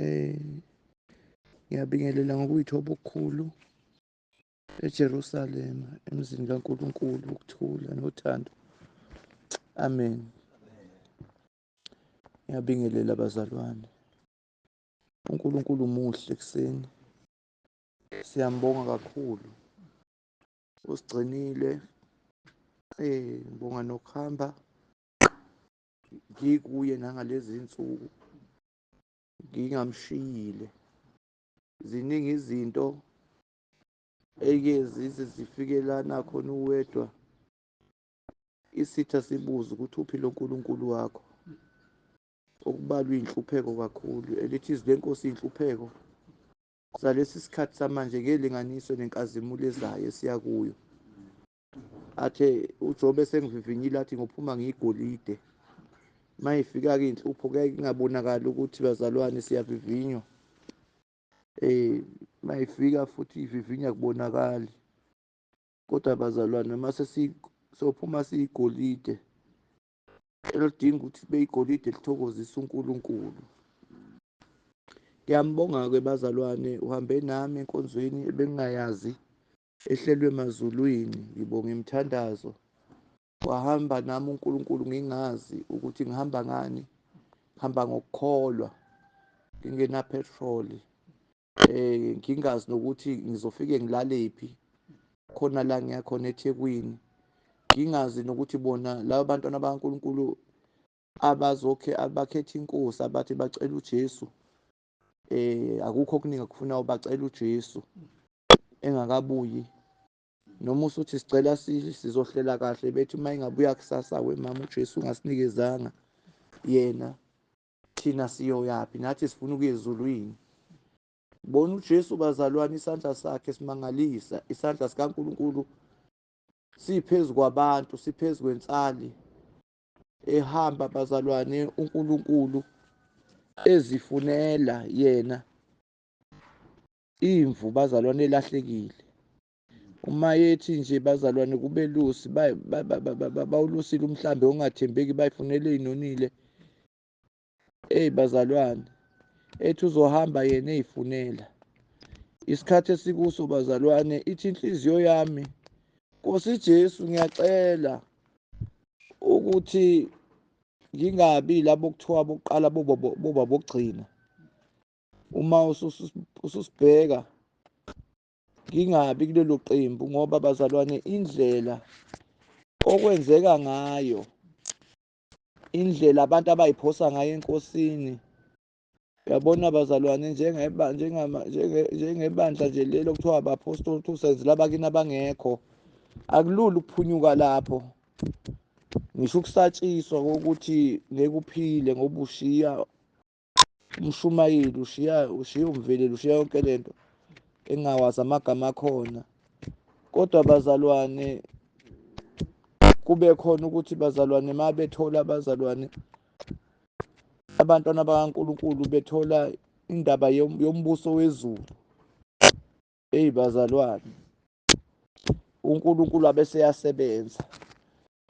Eh, ngiyabingelela ngokuyithoba okukhulu eJerusalema emzini kaNkulunkulu ukuthula nothando. Amen. Ngiyabingelela bazalwane. UNkulunkulu muhle kuseni. Siyambonga kakhulu. Usigcinile. Eh, ngibonga nokuhamba ngikuye nangalezi insuku. ngingamshiyile ziningi izinto eyike zize zifike la nakhona uwedwa isitha sibuze ukuthi uphi lo nkulunkulu wakho okubalwa iy'nhlupheko kakhulu elithi izwi lenkosi iy'nhlupheko zalesi sikhathi samanje ngelinganiso nenkazimulo ezayo esiya kuyo athe ujobe sengivivinyile athi ngophuma ngiyigolide uma ifika-ke inhlupho kuyaye kungabonakali ukuthi bazalwane siyavivinywa um uma ifika futhi ivivinya kubonakali kodwa bazalwane uma sophuma siyigolide elidinga ukuthi kube igolide elithokozisa unkulunkulu ngiyambonga-ke bazalwane uhambe nami enkonzweni ebengingayazi ehlelwe emazulwini ngibonga imithandazo wahamba nami uNkulunkulu ngingazi ukuthi ngihamba ngani ngihamba ngokukholwa ngingena petrol eh ngingazi nokuthi ngizofike ngilalephi khona la ngiya khona eThekwini ngingazi nokuthi bona laba bantwana bakaNkulunkulu abazokhe abakhetha inkosi abathi bacela uJesu eh akukho okuningi akufuna ubacela uJesu engakabuyi noma usuthi sicela sizohlela kahle bethi uma ingabuya kusasa we mama uJesu ungasinikezanga yena thina siyoyaphi nathi sifuna ukuya ezulwini bona uJesu bazalwane isandla sakhe simangalisa isandla sikaNkuluNkulu siphezu kwabantu siphezu kwensali ehamba bazalwane uNkulunkulu ezifunela yena imvu bazalwane elahlekile uma yethi nje bazalwane kube lusi bawulusile umhlambi ongathembeki bayifunele inonile Eyi bazalwane, ethi uzohamba yena eyifunela. Isikhathi esikuso bazalwane, ithi inhliziyo yami, Nkosi Jesu ngiyacela ukuthi ngingabi labo kuthiwa bokuqala boba bokugcina. Uma ususibheka ngingabi kulelo qembu ngoba bazalwane indlela okwenzeka ngayo indlela abantu abayiphosa ngayo enkosini yabona bazalwane njengebandla nje leli okuthiwa abapostoli two senzi labakini abangekho akulula ukuphunyuka lapho ngisho ukusatshiswa kokuthi ngeke uphile ngoba ushiya umshumayeli ushiya ushiya umveleli ushiya yonke lento engawazi amagama akhona kodwa bazalwane kube khona ukuthi bazalwane ma bethola abazalwane abantwana bakaNkulunkulu bethola indaba yombuso wezulu eyi bazalwane uNkulunkulu abeseyasebenza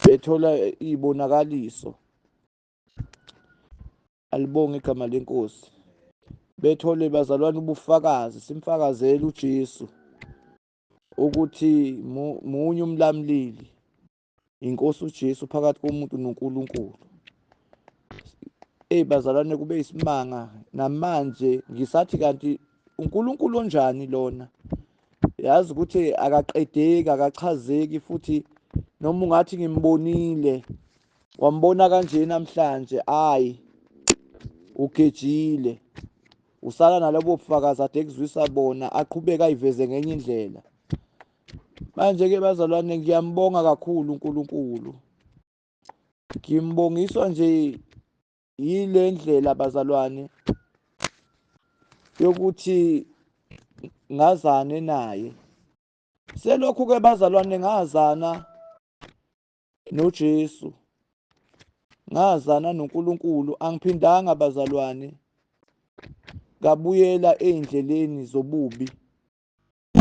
bethola izibonakaliso alibonge igama lenkosi bethole bazalwane ubufakazi simfakazele uJesu ukuthi munye umlamlili inkosi uJesu phakathi komuntu noNkulunkulu hey bazalwane kube isimanga namanje ngisathi kanti uNkulunkulu onjani lona yazi ukuthi akaqedeki akachazeki futhi noma ungathi ngimbonile Wambona kanje namhlanje ayi ugejile usala nalobo bufakazi ade kuzwisa bona aqhubeka ayiveze ngenye indlela manje ke bazalwane ngiyambonga kakhulu uNkulunkulu ngimbongiswa nje yile ndlela bazalwane yokuthi ngazane naye selokhu ke bazalwane ngazana noJesu. Ngazana noNkulunkulu, angiphindanga bazalwane. Ngabuyela ezindleleni zobubi.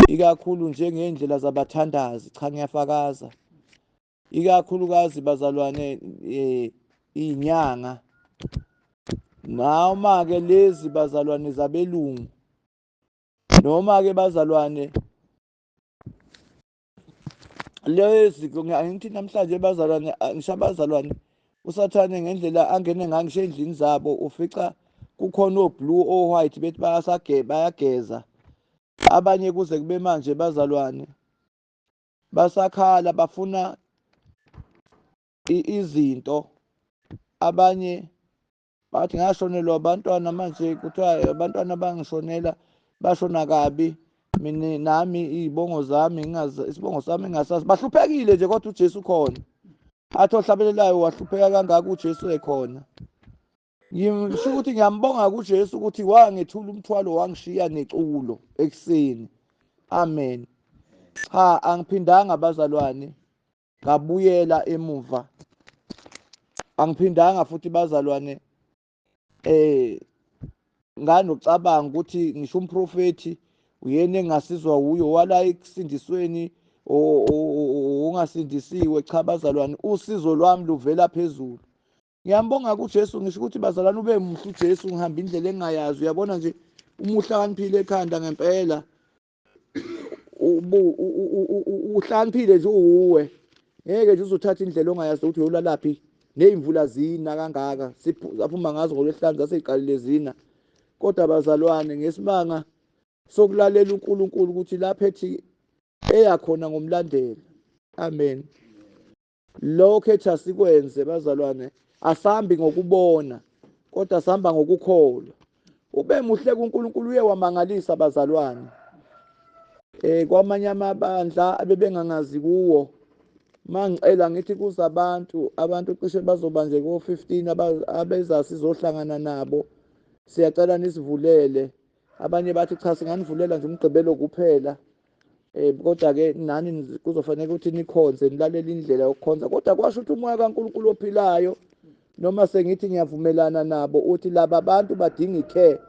Ikakhulu njengendlela zabathandazi, cha ngiyafakaza. Ikakhulukazi bazalwane eh inyanga. Noma ke lezi bazalwane zabelungu. Noma ke bazalwane lezi angithi namhlanje bazalwane ngisho abazalwane usathane ngendlela angene ngayo ngisho endlini zabo ufica kukhona oblue o-white bethi bayageza abanye kuze kube manje bazalwane basakhala bafuna izinto abanye bathi ngashonelwa abantwana manje kuthiwa abantwana bangishonela bashona kabi mina nami iy'bongo zami isibongo sami ngingasazi bahluphekile nje kodwa ujesu khona athi ohlabelelayo wahlupheka kangaka ujesu ekhona ngisho ukuthi ngiyambonga kujesu ukuthi wangethula umthwalo wangishiya neculo ekuseni amen cha angiphindanga bazalwane ngabuyela emuva angiphindanga futhi bazalwane eh nganocabanga ukuthi ngisho umprofethi uyena engasizwa wuyo wala ekusindisweni ongasindisiwe cha bazalwane usizo lwami luvela phezulu ngiyambonga kuJesu ngisho ukuthi bazalwane ube muhle uJesu ngihamba indlela engayazi uyabona nje umuhle akaniphile ekhanda ngempela uhlaniphile nje uwuwe ngeke nje uzothatha indlela ongayazi ukuthi uyolalaphi neyimvula zina kangaka siphuma ngazo ngolwesihlanu zaseziqalile zina kodwa bazalwane ngesimanga sokulalela uNkulunkulu ukuthi lapho ethi eyakhona ngomlandela amen Lokho ethi asikwenze bazalwane asambi ngokubona kodwa sihamba ngokukholwa. Ube muhle kuNkulunkulu uye wamangalisa bazalwane. Eh kwamanye amabandla abebengangazi kuwo mangicela ngithi kuza abantu abantu cishe bazoba nje ko-15 abeza sizohlangana nabo siyacela nisivulele abanye bathi cha singanivulela nje umgqibelo kuphela Eh kodwa ke nani kuzofanele ukuthi nikhonze nilalele indlela yokukhonza kodwa kwasho ukuthi umoya kaNkuluNkulu ophilayo noma sengithi ngiyavumelana nabo uthi laba bantu badinga icare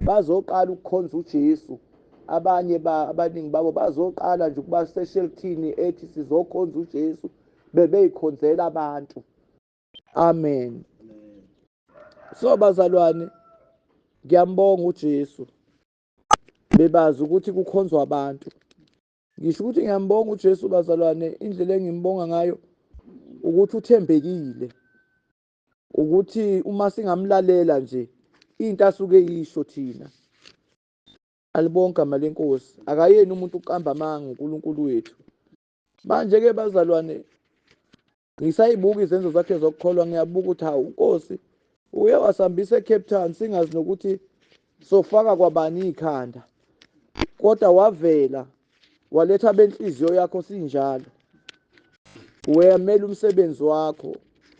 bazoqala ukukhonza uJesu abanye abaningi babo bazoqala nje ukuba seshelthini ethi sizokhonza uJesu bebeyikhonzela abantu amen so bazalwane ngiyambonga uJesu bebazi ukuthi kukhonzwa abantu ngisho ukuthi ngiyambonga uJesu bazalwane indlela engimbonga ngayo ukuthi uthembekile ukuthi uma singamlalela nje into asuke yisho thina alibonke amali enkosi akayeni umuntu uqamba amanga uNkulunkulu wethu manje-ke bazalwane Ngisayibuka izenzo zakhe zokukholwa ngiyabuka ukuthi hawu uNkosi uye wasihambisa eCape Town singazi nokuthi sofaka kwabani ikhanda. Kodwa wavela waletha benhliziyo yakho sinjalo. Weyamela umsebenzi wakho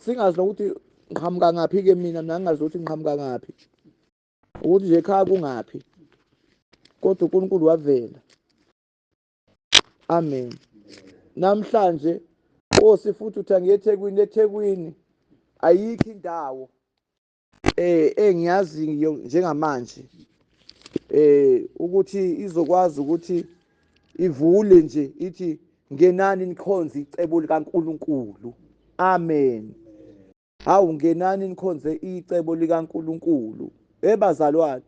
singazi nokuthi ngiqhamuka ngaphi ke mina mina ngingazi ukuthi ngiqhamuka ngaphi. Ukuthi nje ekhaya kungaphi. Kodwa uNkulunkulu wavela. amen namhlanje osi futhi uthi angiyethekwini ethekwini ayikho indawo eh engiyazi njengamanje eh ukuthi izokwazi ukuthi ivule nje ithi ngenani nikhonze icebo likaNkuluNkulu amen Hawu ngenani nikhonze icebo likaNkulunkulu. Hey bazalwane,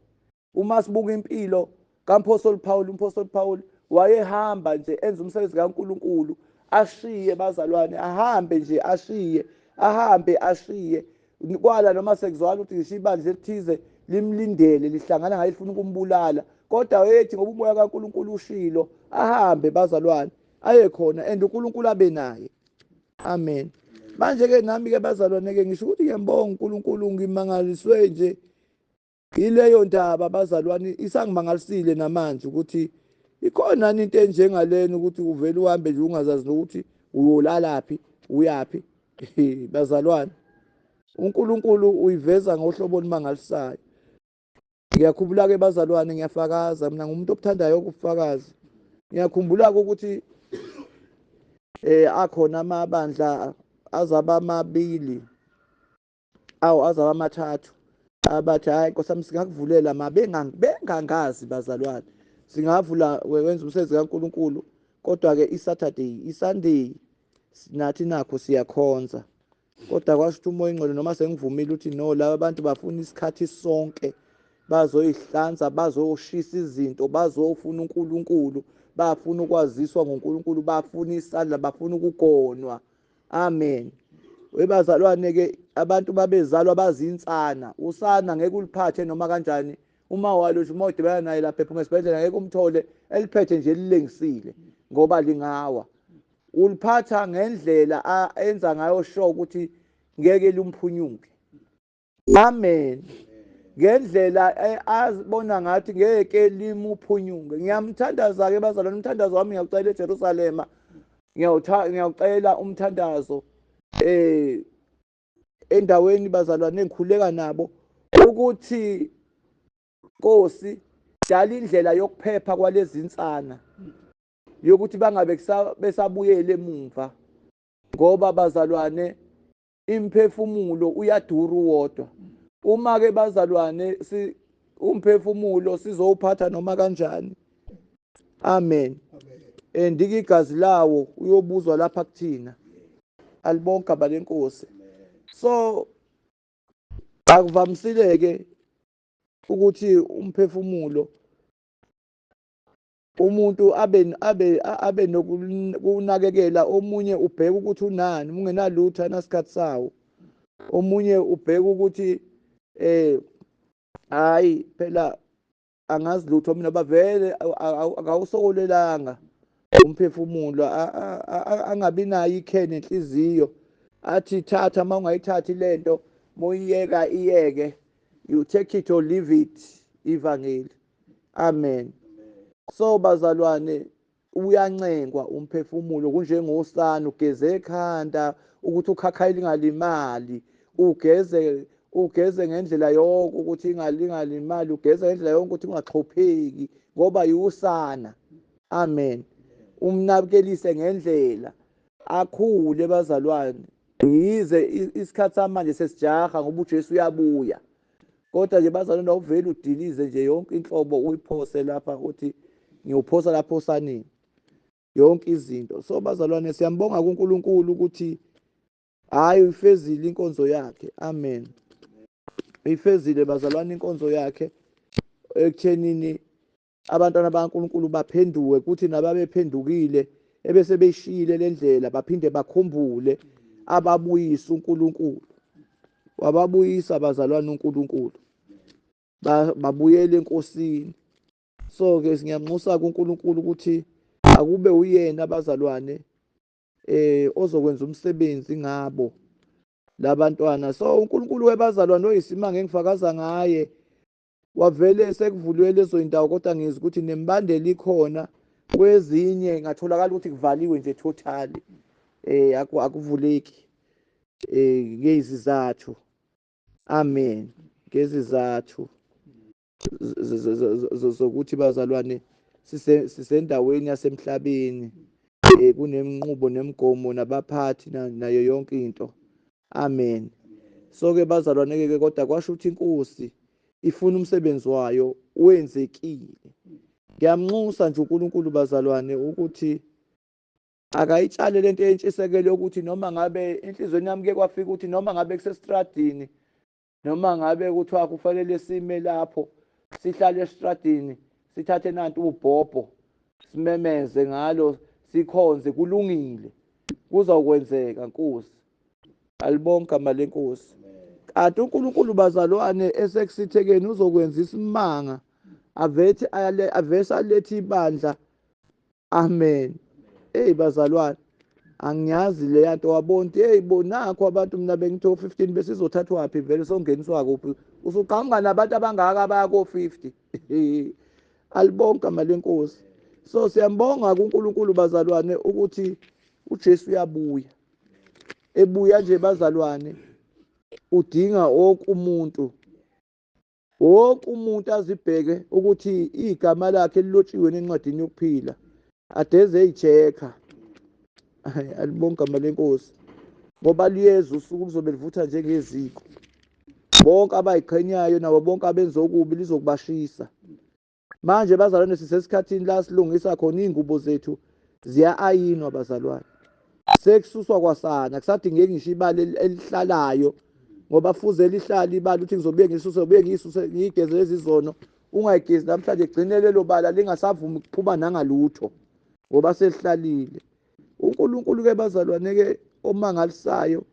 uma sibuka impilo kaMphostoli Pawulu, uMphostoli Pawulu wayehamba nje enza umsebenzi kaNkulunkulu, ashiye bazalwane, ahambe nje ashiye, ahambe ashiye. Kwala noma sekuzwakala ukuthi ngisho ibandla elithize limlindele lihlangana ngaye lifuna ukumbulala kodwa wayethi ngoba umoya kaNkulunkulu ushilo ahambe bazalwane aye khona and uNkulunkulu abe naye amen manje-ke nami-ke bazalwane-ke ngisho ukuthi ngiyambonga unkulunkulu ngimangaliswe nje yileyo ndaba bazalwane isangimangalisile namanje ukuthi ikhona into enjengalena ukuthi uvele uhambe nje ungazazi nokuthi uyolalaphi uyaphi bazalwane uNkulunkulu uyiveza ngohlobo olumangalisayo Ngiyakhumbula-ke bazalwane, ngiyafakaza. Mina ngumuntu obuthandayo ukufakaza. Ngiyakhumbula-ke ukuthi eh akhona amabandla azaba amabili awu azaba amathathu abathi hayi nkosi yami singakuvulela ma bengangazi bazalwane singavula wenza umsebenzi kaNkuluNkulu kodwa-ke isaturday isunday nathi nakho siyakhonza kodwa kwasho umoya ingcwele noma sengivumile ukuthi no laba abantu bafuna isikhathi sonke bazoyihlanza bazoshisa izinto bazofuna uNkulunkulu bafuna ukwaziswa ngoNkulunkulu bafuna isandla bafuna ukugonwa amen webazalwane ke abantu babezalwa bazinsana usana ngeke uliphathe noma kanjani uma walo uma udibana naye lapha ephuma esibhedlela ngeke umthole eliphethe nje lilengisile ngoba lingawa Uliphatha ngendlela a enza ngayo sure ukuthi ngeke lumphunyuke. Amen. Ngendlela e, azibona ngathi ngeke limuphunyuke. Ngiyamthandaza ke bazalwane umthandazo wami ngiyawucela eJerusalema. Ngiyawucela umthandazo eh endaweni bazalwane engikhuleka nabo ukuthi Nkosi dala indlela yokuphepha kwalezi nsana yokuthi bangabe besabuyela emumva ngoba bazalwane imphefumulo uyadura uwodwa uma ke bazalwane si umphefumulo sizowuphatha noma kanjani amen and ke igazi lawo uyobuzwa lapha kuthina alibonke abalenkosi so akuvamisile ke ukuthi umphefumulo umuntu abe abe abe nokunakekela omunye ubheka ukuthi unani ungenalutho anasikhathi sawo omunye ubheka ukuthi eh hayi phela angazi lutho mina bavele akawusokolelanga umphefumulo angabi nayo ikheni enhliziyo athi thatha uma ungayithathi lento moyiyeka iyeke you take it or leave it ivangeli amen so bazalwane uyancengwa umphefumulo kunjengosana ugeze ekhanda ukuthi ukhakhayi lingalimali ugeze ugeze ngendlela yonke ukuthi ingalingalimali ugeze ngendlela yonke ukuthi ungaxhopheki ngoba yiwusana amen umnakelise ngendlela akhule bazalwane yize isikhathi samanje sesijaha ngoba uJesu uyabuya Kodwa nje bazalwane awuveli udilize nje yonke inhlobo uyiphose lapha uthi ngiyophosa lapho osaneni yonke izinto so bazalwane siyambonga kuNkulunkulu ukuthi hayi uyifezile inkonzo yakhe amen uyifezile bazalwane inkonzo yakhe ekuthenini Abantwana bakaNkulunkulu baphenduke kuthi nababephendukile ebese beyishiyile le ndlela baphinde bakhumbule ababuyisa uNkulunkulu wababuyisa abazalwane uNkulunkulu babuyele enkosini so ke ngiyamnxusa kuNkulunkulu ukuthi akube uyena abazalwane eh ozokwenza umsebenzi ngabo labantwana so uNkulunkulu webazalwane oyisimanga engifakaza ngaye wavele esekuvulwe lezo zindawo kodwa ngizwa ukuthi nembandela ikhona kwezinye ngatholakala ukuthi kuvaliwe nje totally eh akuvuleki eh ngezizathu amen ngezizathu zokuthi bazalwane sisendaweni yasemhlabeni eh, kuneminqubo nemigomo nabaphathi nayo yonke into Amen. So ke bazalwane ke kodwa kwasho ukuthi inkosi ifuna umsebenzi wayo wenzekile. Ngiyamnxusa nje uNkulunkulu bazalwane ukuthi akayitshale lento entshisekelo ukuthi noma ngabe enhlizweni yami ke kwafika ukuthi noma ngabe kusestradini noma ngabe kuthiwa kufanele sime lapho sihlale esitradini sithathe nanti ubhobho simemeze ngalo sikhonze kulungile kuzawukwenzeka nkosi alibonke igama lenkosi kanti unkulunkulu bazalwane esekusithekeni uzokwenza isimanga avese alethe ibandla Amen. Hey bazalwane angiyazi leya nto wabonti hey bo nakho abantu mina bengithi o-15 besizothathwaphi vele songeniswa kuphi usuqhamuka nabantu abangaka abaya ko-50 alibonke amali enkosi so siyambonga kuNkulunkulu bazalwane ukuthi uJesu uyabuya ebuya nje bazalwane udinga wonke umuntu Wonke umuntu azibheke ukuthi igama lakhe lilotshiwe nencwadini yokuphila adeze eyichekha alibonge igama lenkosi ngoba liyeza usuku lizobe livutha njengeziko bonke abayiqhenyayo nabo bonke abenza okubi lizokubashisa manje bazalwane sisesikhathini la silungisa khona iy'ngubo zethu ziya-ayinwa bazalwane sekususwa kwasana kusadingeki ngisho ibali elihlalayo ngoba fuze lihlale ibali ukuthi ngizobuye ngisuse ubuye ngisuse ngiyigeze lezi zono ungayigezi namhlanje gcine lelo bala lingasavumi ukuphuma nangalutho ngoba selihlalile uNkulunkulu-ke bazalwane-ke omangalisayo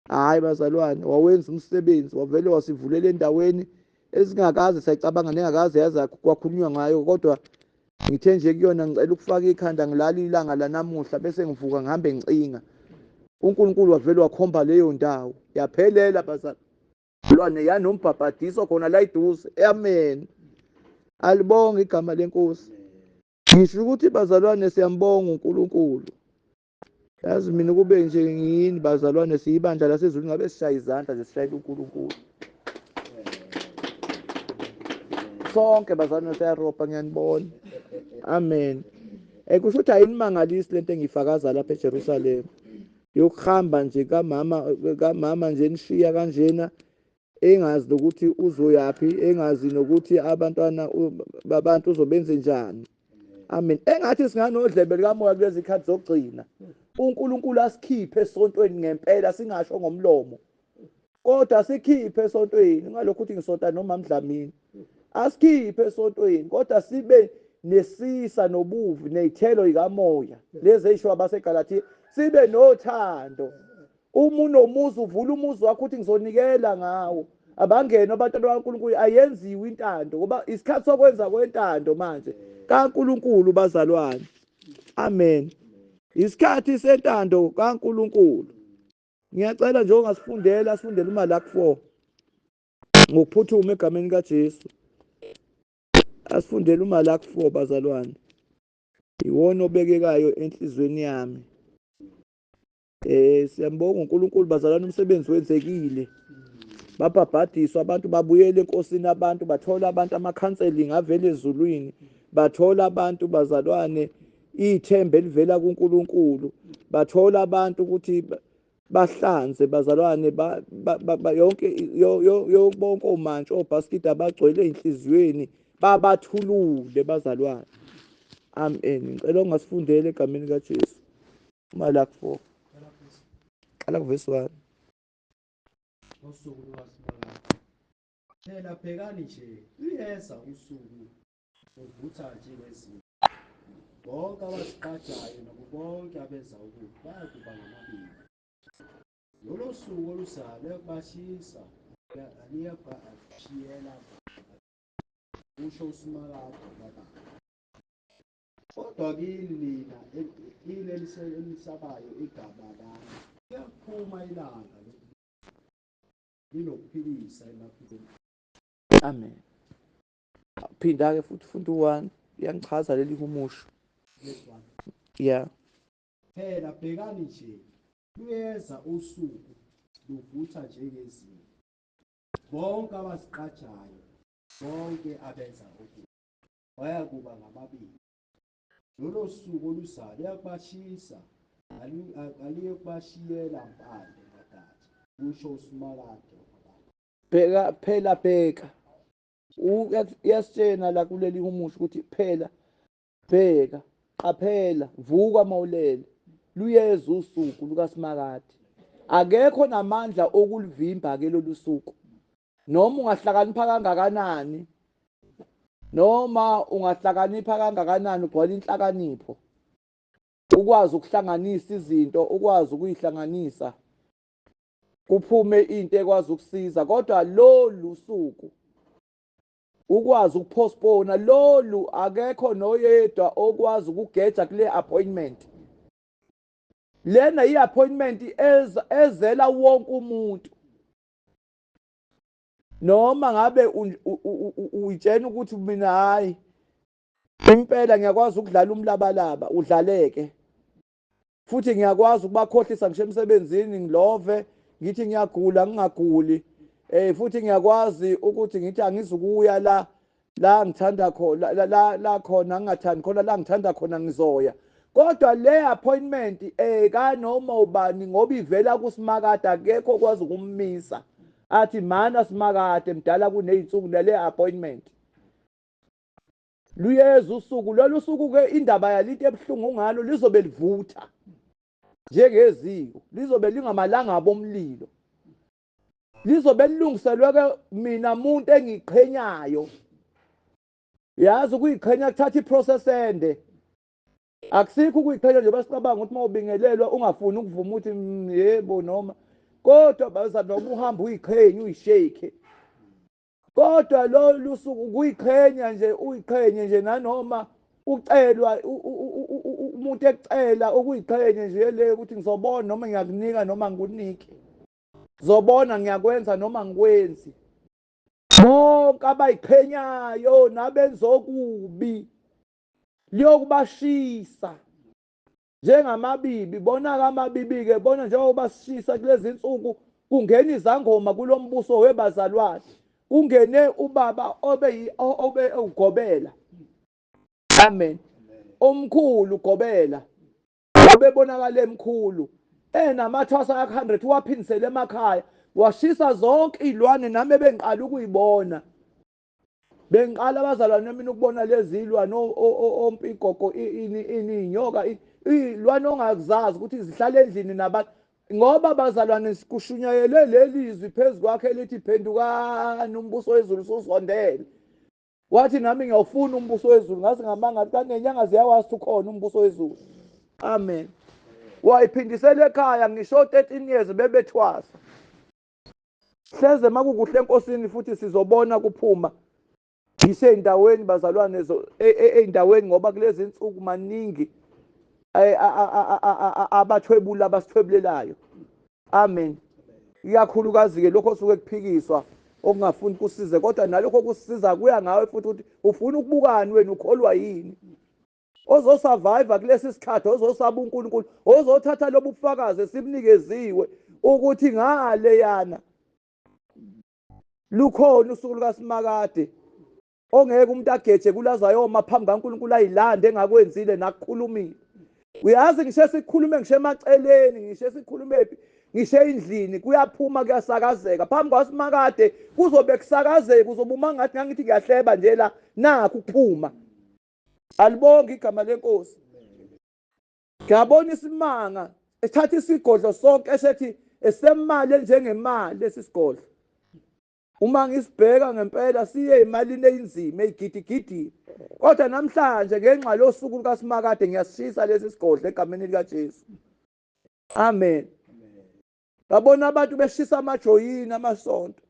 hhayi bazalwane wawenza umsebenzi wavele wasivulela endaweni esingakaze sayicabanga nengakaze yaza kwakhulunywa ngayo kodwa ngithe nje kuyona ngicela ukufaka ikhanda ngilali ilanga lanamuhla bese ngivuka ngihambe ngicinga uNkulunkulu wavele wakhomba leyo ndawo yaphelela bazali lwane yanombhabhadiso khona la iduze amen alibonga igama lenkosi ngisho ukuthi bazalwane siyambonga uNkulunkulu yazi mina kube nje ngiyini bazalwane siyibandla lasezulu ngabe sishaye izandla nje sishayela unkulunkulu sonke bazalwane siyarobha ngiyanibona amen um kusho ukuthi ayinimangalisi le nto engiyifakaza lapha ejerusalema yokuhamba nje kamama kamama nje nishiya kanjena engazi nokuthi uzoyaphi engazi nokuthi abantwana babantu uzobenze njani amen engathi singanodlebe likamoya kulezi khathi zokugcina uNkulunkulu asikhiphe esontweni ngempela singasho ngomlomo kodwa sikhiphe esontweni ngalokho ukuthi ngisonta noma mdlamini asikhiphe esontweni kodwa sibe nesisa nobuvi nezithelo ikamoya lezi ezishiwo abaseGalatia sibe nothando Uma unomuzi uvula umuzi wakho uthi ngizonikela ngawo. Abangene abantwana bakaNkulunkulu ayenziwe intando ngoba isikhathi sokwenza kwentando manje kaNkulunkulu bazalwane. Amen. Isikhathi sentando kaNkulunkulu. Ngiyacela nje ongasifundela asifundele uMalaki 4 ngokuphuthuma egameni likaJesu. Asifundele uMalaki 4 bazalwane. Iwona obekekayo enhlizweni yami. Eh siyambonga uNkulunkulu bazalana umsebenzi wenzekile. Babhabhadiswa abantu babuyele enkosini abantu bathola abantu ama-counseling avela ezulwini bathola abantu bazalwane ithemba elivela kuNkulunkulu bathola abantu ukuthi bahlanze bazalwane yonke bonke omantshi obhaskidi abagcwele enhliziyweni babathulule bazalwane amen ngicela ungasifundele egameni kaJesu Malaki 4. Qala kuvesi 1. Usuku lwasibona. Phela bhekani nje, luyeza usuku uvutha nje ngezinto. Bonke abazigqajayo nabo bonke abenza okubi bayakuba ngamabili. Lolo suku oluzayo luyakubashisa, liyabashiyela kusho uSimakade kabanzi. Kodwa kini nina kini elisabayo igama lami kuyaphuma ilanga linokuphilisa emaphilweni. Amen. Phinda-ke futhi funda u-one uyangichaza leli humusho. Yeah. Phela bhekani nje luyeza usuku luvutha njengezinto bonke abaziqajayo bonke abenza okubi bayakuba ngababili. Lolo suku oluzayo luyakubashisa, kaluyokubashiyela mpande nodade, kusho uSimakade wamabala. Bheka, phela bheka, uyasitshena la kuleli humusha ukuthi phela bheka qaphela vuka mawulele luyeza usuku lukaSimakade akekho namandla okulivimba ke lolu suku noma ungahlakanipha kangakanani noma ungahlakanipha kangakanani ugcwala inhlakanipho ukwazi ukuhlanganisa izinto ukwazi ukuyihlanganisa kuphume into ekwazi ukusiza kodwa lolu suku ukwazi ukupostpone lolu akekho noyedwa okwazi ukugeja kule appointment lena i-appointment ezela wonke umuntu noma ngabe uyitshena ukuthi mina hayi impela ngiyakwazi ukudlala umlabalaba udlaleke futhi ngiyakwazi ukubakhohlisa ngisho emsebenzini ngilove ngithi ngiyagula ngingaguli eh futhi ngiyakwazi ukuthi ngithi angizukuya la la ngithanda khona la la, la khona ngingathandi khona la ngithanda khona ngizoya kodwa le appointment eh kanoma ubani ngoba ivela kusimakade akekho kwazi ukummisa athi mana simakade mdala kunezinsuku lale appointment luyeza usuku lolu suku ke indaba yalinto ebuhlungu ngalo lizobe livutha njengeziko lizobe lingamalanga abomlilo lizobe lilungiselwe ke mina muntu engiqhenyayo yazi ukuyiqhenya kuthatha iprocess ende akusikho ukuyiqhenya nje basicabanga ukuthi uma ubingelelwa ungafuni ukuvuma ukuthi mm, yebo noma kodwa baza noma uhamba uyiqhenye uyishake kodwa lolu suku kuyiqhenya nje uyiqhenye nje nanoma ucelwa umuntu ekucela ukuyiqhenye nje le ukuthi ngizobona noma ngiyakunika noma ngikunike ngizobona ngiyakwenza noma ngikwenzi bonke abayiqhenyayo nabenza okubi liyokubashisa njengamabibi, bona-ke amabibi-ke, bona njengoba sishisa kulezi nsuku, kungena izangoma kulo mbuso webazalwane, kungene ubaba obe, obe ugobela. Amen. Omkhulu ugobela, obebonakala emkhulu, enamathwasa aka-100, uwaphindisele emakhaya, washisa zonke izilwane nami ebengiqala ukuyibona. bengiqala abazalwane mina ukubona lezilwane ompigogo ini ini inyoka ilwane ongakuzazi ukuthi zihlala endlini nabantu ngoba bazalwane sikushunyayele leli izwi phezu kwakhe lithi phendukani umbuso wezulu usuzondele wathi nami ngiyawufuna umbuso wezulu ngazi ngamanga athi kanti nenyanga ziyawazi ukhona umbuso wezulu amen wayiphindisela ekhaya ngisho 13 years bebethwasa hleze makukuhle enkosini futhi sizobona kuphuma ngiseyindaweni bazalwane e, e, eyindaweni ngoba kulezi nsuku maningi e, abathwebula abasithwebulelayo amen ikakhulukazi-ke lokho osuke kuphikiswa okungafuni kusize kodwa nalokho kusiza kuya ngawe futhi ukuthi ufuna ukubukani wena ukholwa yini ozosurvive kulesi sikhathi ozosaba uNkulunkulu ozothatha lobu bufakazi esibunikeziwe ukuthi ngale yana lukhona usuku lukaSimakade ongeke umuntu ageje kulazayoma phambi kaNkulunkulu ayilande engakwenzile nakukhulumile uyazi ngisho sikhulume ngisho emaceleni ngisho sikhulumephi ngisho endlini kuyaphuma kuyasakazeka phambi kwaSimakade kuzobe kusakazeka uzobe uma ngathi ngangithi ngiyahleba nje la nakho ukuphuma alibonge igama lenkosi ngiyabona isimanga esithatha isigodlo sonke esethi esemali enjengemali lesi sigodlo uma ngisibheka ngempela siye imalini eyinzima eyigidigidi kodwa namhlanje ngenxa losuku lukaSimakade ngiyasishisa lesi sigodlo egameni likaJesu amen babona abantu beshisa amajoyini amasonto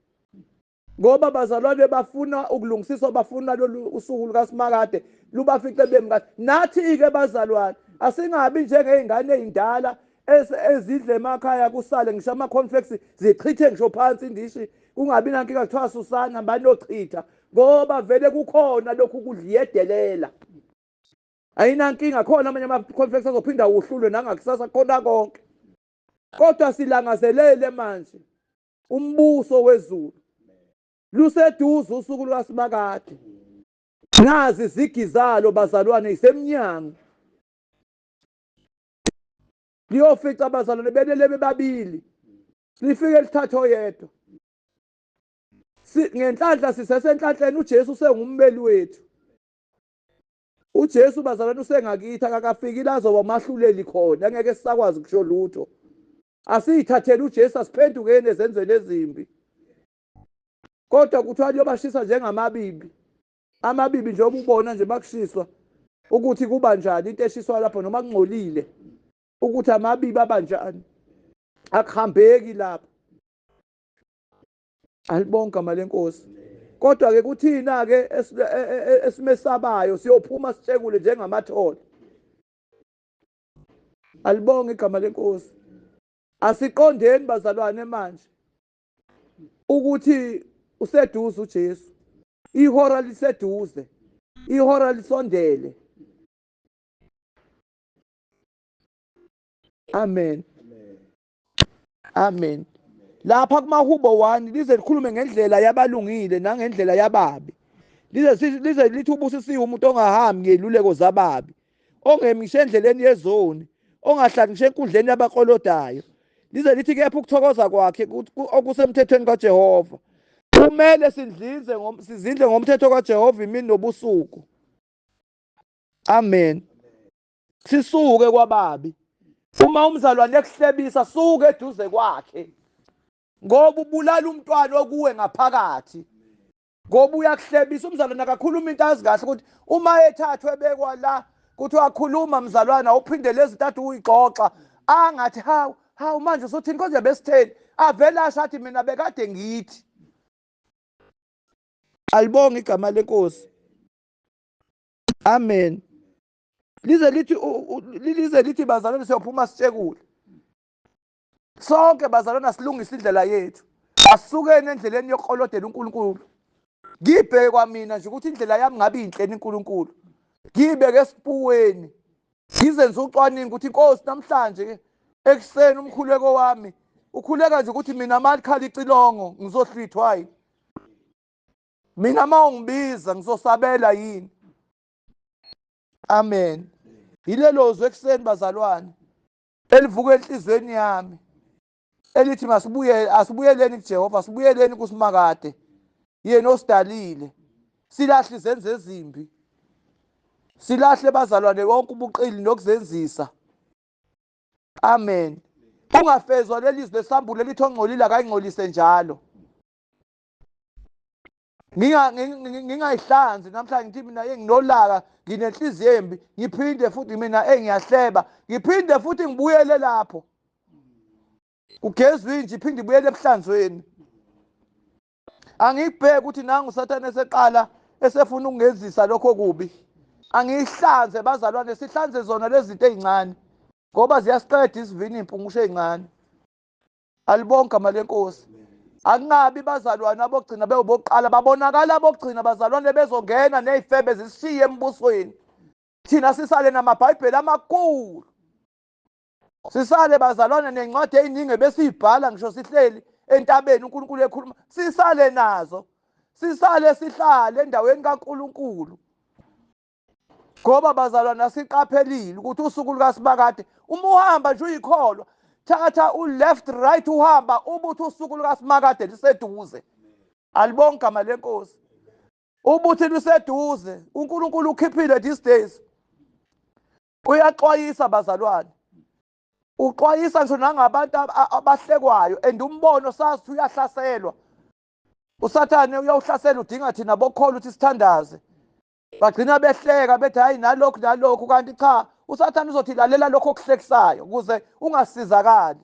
Ngoba abazalwane bafuna ukulungisiswa, bafuna lolu usuku lukaSimakade lubafice bemi kahle. Nathi-ke bazalwane asingabi njengey'ngane ey'ndala ezidla emakhaya kusale ngisho ama-cornflakes, zichithe ngisho phansi indishi kungabi nankinga kuthiwa susani hambani nochitha ngoba vele kukhona lokhu kudla iyedelela. Ayinankinga khona amanye ama-cornflakes azophinda uhlulwe nangakusasa kukhona konke. Kodwa silangazelele manje umbuso wezulu luseduze usuku lwasimakade nazi izigi zalo bazalwane isemnyango liyofica abazalwane benele bebabili lifike lithathe oyedwa ngenhlanhla sisesenhlanhleni uJesu usengummeli wethu uJesu bazalwane usengakithi akakafiki la azoba mahluleli khona ngeke sisakwazi kusho lutho Asiyithathele uJesu asiphendukeni ezenzweni ezimbi. Kodwa kuthiwa liyobashisa njengamabibi. Amabibi nje obubona nje makushiswa ukuthi kuba njani into eshiswa lapho noma kungcolile ukuthi amabibi abanjani. Akuhambeki lapho. Alibonke amalenkosi. Kodwa ke kuthina ke e, e, e, esimesabayo siyophuma sitshekule njengamathole. Alibonge igama lenkosi. Asiqondeni bazalwane manje ukuthi useduze uJesu. Ihora liseduze. Ihora lisondele. Amen. amen lapha kumahubo 1 lize likhulume ngendlela yabalungile nangendlela yababi lize lize lithi ubusisiwe umuntu ongahambi ngeluleko zababi ongemishe endleleni yezoni ongahlali ngisho enkundleni yabakolodayo lize lithi kepha ukuthokoza kwakhe okusemthethweni kaJehova kumele sidlinze sizindle ngomthetho kaJehova imini nobusuku amen sisuke kwababi uma umzalwane ekuhlebisa suke eduze kwakhe ngoba ubulala umntwana okuwe ngaphakathi ngoba uyakuhlebisa umzalwane akakhuluma into azi kahle ukuthi uma ethathwe bekwa la kuthiwa khuluma mzalwana uphindele izinto athi uyixoxa angathi hawu hawu manje usuthini konje besitheni avele asho athi mina bekade ngithi alibonge igama lenkosi amen lize lithi lize lithi bazalwane siyophuma sitshekule sonke bazalwane asilungise indlela yethu asukeni endleleni yokukolodela uNkulunkulu ngibheke kwamina nje ukuthi indlela yami ngabe inhleni uNkulunkulu ngibeke esipuweni ngizenze ucwaningo ukuthi inkosi namhlanje ke ekuseni umkhuleko wami ukhuleka nje ukuthi mina malikhala icilongo ngizohlwithwa yini mina uma ungibiza ngizosabela yini amen yilelo zwi ekuseni bazalwane elivuka enhlizweni yami elithi masibuyele asibuyeleni kujehova sibuyeleni kusimakade yena osidalile silahle izenzo ezimbi silahle bazalwane konke ubuqili nokuzenzisa amen ungafezwa leli zwi lesambulo elithi ongcolile akayingcolise njalo ngingayihlanzi namhlanje ngithi mina enginolaka nginenhliziyo embi ngiphinde futhi mina engiyahleba ngiphinde futhi ngibuyele lapho kugezwa inje iphinde ibuyele ebuhlanzweni angiyibheki ukuthi nangu usathane eseqala esefuna ukungenzisa lokho kubi angiyihlanze bazalwane sihlanze zona lezi zinto ey'ncane ngoba ziyasiqeda isivinini impungusho ey'ncane alibonke amali enkosi akungabi bazalwane abogcina bewubokuqala babonakala abogcina bazalwane bezongena nezifebe zishiye embusweni thina sisale namabhayibheli amakhulu sisale bazalwane nencwadi eziningi ebesiyibhala ngisho sihleli entabeni uNkulunkulu ekhuluma sisale nazo sisale sihlale endaweni kaNkulunkulu ngoba bazalwane asiqaphelile ukuthi usuku lukasibakade uma uhamba nje uyikholwa thatha u-left right uhamba ubuthi usuku lukasimakade liseduze alibonga igama lenkosi ubuthi luseduze unkulunkulu ukhiphile these days uyaxwayisa bazalwane uxwayisa ngisho nangabantu abahlekwayo and umbono sazi ukuthi uyahlaselwa usathane uyawuhlasela udinga thina bokholwa ukuthi sithandaze bagcina behleka bethi hayi nalokhu nalokhu kanti cha usathane uzothi lalela lokho okuhlekisayo ukuze ungasizakali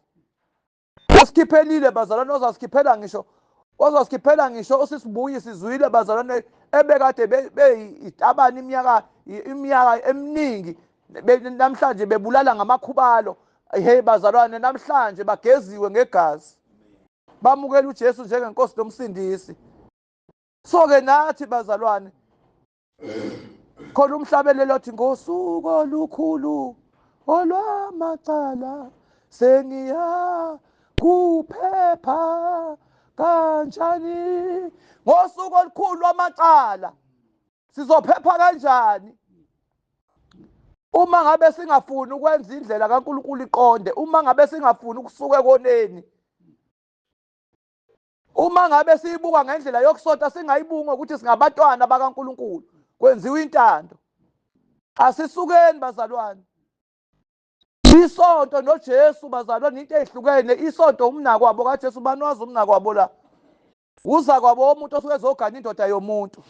usikhiphelile bazalwane ozasikhiphela ngisho ozasikhiphela ngisho usisibuyi sizwile bazalwane ebekade beyitabani iminyaka iminyaka eminingi namhlanje bebulala ngamakhubalo hey bazalwane namhlanje bageziwe ngegazi bamukela uJesu njengenkosi nomsindisi so ke nathi bazalwane khona umhlabelelo othi ngosuku olukhulu olwamacala sengiya kuphepha kanjani ngosuku olukhulu lwamacala sizophepha kanjani uma ngabe singafuni ukwenza indlela kaNkuluNkulu iqonde uma ngabe singafuni ukusuka ekoneni Uma ngabe siyibuka ngendlela yokusota singayibuki ngokuthi singabatwana bakaNkulunkulu kwenziwa intando. Asisukeni bazalwane. Isonto noJesu bazalwane into ezihlukene isonto umnako wabo kaJesu bani wazi umnako wabo la. Uza kwabo umuntu osuke ezogana indoda yomuntu.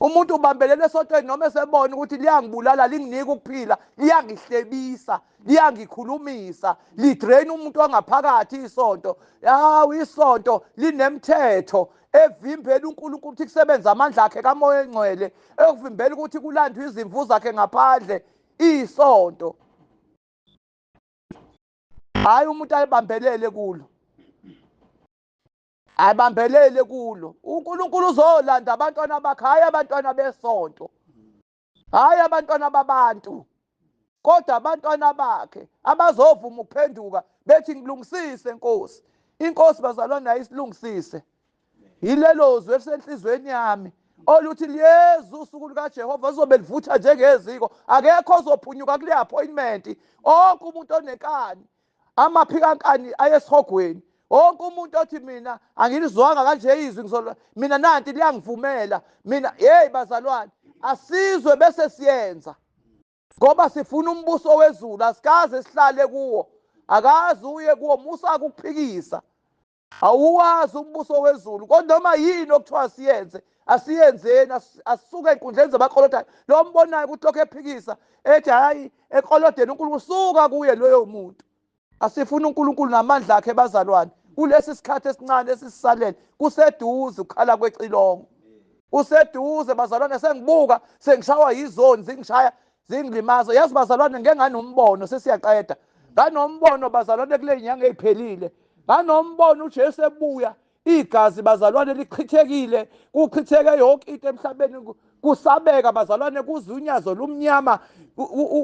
Umuntu ubambelele esotweni noma esebona ukuthi liyangibulala linginike ukuphila liyangihlebisa liyangikhulumisa lidrain umuntu ongaphakathi isonto hawu isonto linemthetho evimbela uNkulunkulu ukuthi kusebenze amandla akhe kamoya engcwele ekuvimbela ukuthi kulandwe izimvu zakhe ngaphandle isonto hayi umuntu ayibambelele kulo abambelele kulo uNkulunkulu uzolanda abantwana bakhe hayi abantwana besonto hayi abantwana babantu kodwa abantwana bakhe abazovuma ukuphenduka bethi ngilungisise nkosi inkosi bazalwa nayo isilungisise yilelo zwi elisenhlizweni yami oluthi liyeza usuku lukajehova lizobe livutha njengeziko akekho ozophunyuka kule appointment onke umuntu onenkani amaphikankani ayesihogweni wonke umuntu othi mina angilizwanga kanje izwi ngizolwa mina nanti liyangivumela mina hey bazalwane asizwe bese siyenza ngoba sifuna umbuso wezulu asikaze sihlale kuwo akazi uye kuwo musa ukuphikisa awuwazi umbuso wezulu kodwa noma yini okuthiwa siyenze asiyenzeni asuke ey'nkundleni zabakolothayo lo mbonayo ukuthi lokho ephikisa ethi hhayi ekolodeni unkulunkulu suka kuye loyo muntu asifuna unkulunkulu namandla akhe bazalwane kulesi sikhathi esincane esisisalele kuseduze ukukhala kwecilongo kuseduze bazalwane sengibuka sengishawa yizoni zingishaya zingilimaza yazi bazalwane ngeke nganombono sesiyaqeda nganombono bazalwane kule nyanga eyiphelile nganombono uJesu ebuya igazi bazalwane lichithekile kuchitheke yonke into emhlabeni kusabeka bazalwane kuze unyazo lumnyama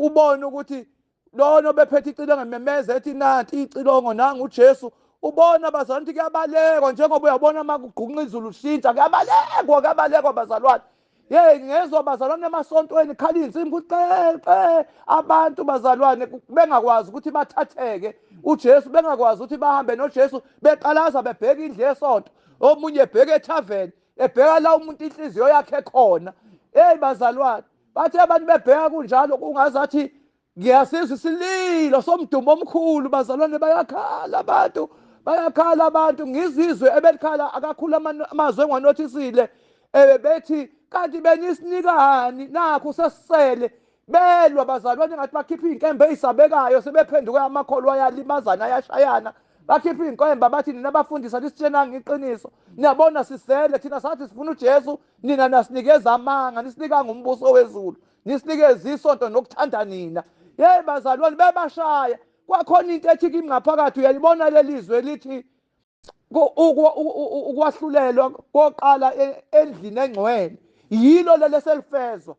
ubone ukuthi lona obephethe icilongo ememeza ethi nanti icilongo nangu uJesu ubona bazalwane ukuthi kuyabalekwa njengoba uyabona uma kugqunqa izulu shintsha kuyabalekwa kuyabalekwa bazalwane Hey ngezwa bazalwane emasontweni khala insimbi ukuthi qeqe abantu bazalwane bengakwazi ukuthi bathatheke uJesu bengakwazi ukuthi bahambe noJesu beqalaza bebheka indle yesonto omunye ebheka ethaveni ebheka la umuntu inhliziyo yakhe khona hey bazalwane bathe abantu bebheka kunjalo kungazathi ngiyasizwa isililo somdumo omkhulu bazalwane bayakhala abantu bayakhala abantu ngizizwe ebelikhala akakhulu amazwi engiwanothisile um bethi kanti benisinikani nakho sesisele belwa bazalwane ngathi bakhipha iy'nkembe ey'sabekayo sebephenduke amakholwa ayalimazana ayashayana bakhipha iy'nkwembe abathi nina bafundisi anisitshenanga iqiniso niyabona sisele thina sathi sifuna ujesu nina nasinikeza amanga nisinikanga umbuso wezulu Ngisinikeze isonto nokuthanda nina. Yeyi bazalwane bebashaya. Kwakhona into ethi kimi ngaphakathi uyalibona lelizwe elithi ukwahlulelwa koqala e, endlini engcwele. Yilo lele selifezwa.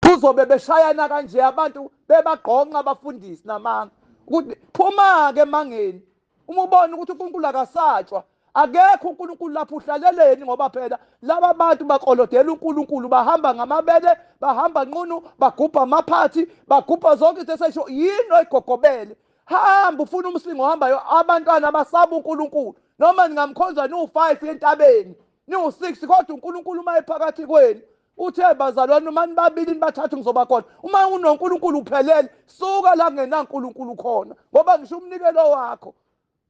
Kuzobe beshayana kanje abantu bebagqonqa abafundisi namanga. Ukuthi phuma-ke emangeni. Uma ubona ukuthi uNkulunkulu akasatshwa Akekho uNkulunkulu lapho uhlaleleni ngoba phela laba bantu bakolodela uNkulunkulu bahamba ngamabele bahamba nqunu bagubha amaphathi bagubha zonke izinto esesho yini oyigogobele hamba ufuna umslingo ohambayo abantwana abasaba uNkulunkulu noma ningamkhonza niwu-5 entabeni niwu-6 kodwa uNkulunkulu uma ephakathi kwenu uthe bazalwane uma nibabili nibathathu ngizoba khona uma unoNkulunkulu uphelele suka la kungenaNkulunkulu khona ngoba ngisho umnikelo wakho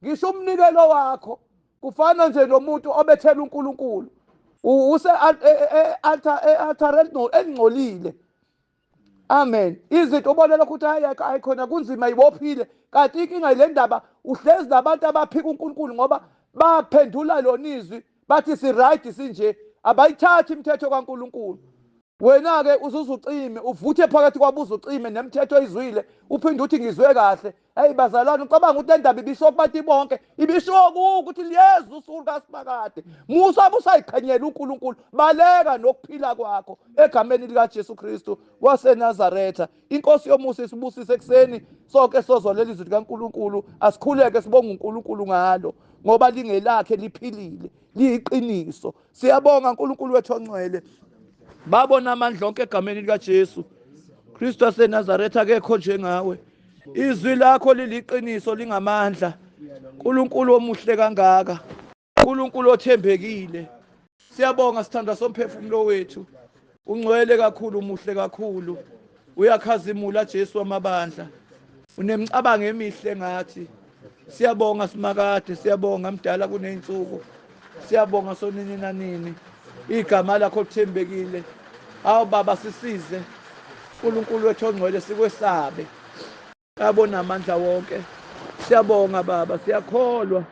Ngisho umnikelo wakho kufana nje nomuntu obethela uNkulunkulu use e, e, e, altar altar elingcolile amen izinto ubona lokho ukuthi hayi hayi khona kunzima ibophile kanti inkinga ile ndaba uhlezi nabantu abaphika uNkulunkulu ngoba baphendula lona izwi bathi siright sinje abayithathi imithetho kaNkuluNkulu wena-ke uzuze ucime uvuthe phakathi kwabuza ucime nemithetho oyizwile uphinde uthi ngizwe kahle eyi bazalwane ucabanga ukuthi le ndaba ibishiwo kubantu bonke ibishiwo kuwo ukuthi liyeza usulu kasimakade musa busayiqhenyela unkulunkulu baleka nokuphila kwakho egameni likajesu kristu wasenazaretha inkosi yomusa isibusise ekuseni sonke sozwa leli zwi likaNkulunkulu asikhuleke sibonga uNkulunkulu ngalo ngoba lingelakhe liphilile liyiqiniso siyabonga uNkulunkulu wethu ongcwele babona amandla onke egameni likaJesu Kristu waseNazaretha akekho njengawe izwi lakho liliqiniso lingamandla uNkulunkulu omuhle kangaka uNkulunkulu othembekile siyabonga sithandwa somphefumulo wethu ungcwele kakhulu umuhle kakhulu uyakhazimula Jesu wamabandla unemicabango emihle ngathi siyabonga simakade siyabonga mdala kuneyinsuku siyabonga sonini nanini igama lakho lithembekile awu baba sisize uNkulunkulu wethu ongcwele sikwesabe Abona amandla wonke. Siyabonga baba, siyakholwa.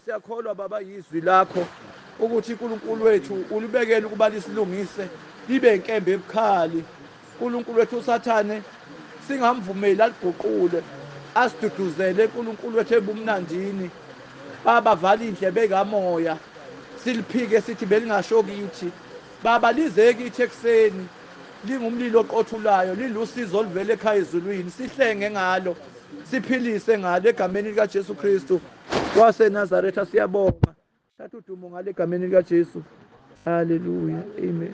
Siyakholwa baba yizwi lakho ukuthi uNkulunkulu wethu ulibekele ukuba lisilungise libe inkembe ebukhali. uNkulunkulu wethu uSathane singamvumeli aliguqule asiduduzele uNkulunkulu wethu ebumnandini. Baba vala indlebe kamoya siliphike sithi belingasho kithi. Baba lize kithi ekuseni. Lingumlilo oqothulayo, lilusizo oluvela ekhaya ezulwini. Sihlenge ngalo, siphilise ngalo, egameni likaJesu Kristu waseNazaretha siyabonga. Thatha udumo ngalo egameni likaJesu. Haleluya. Amen.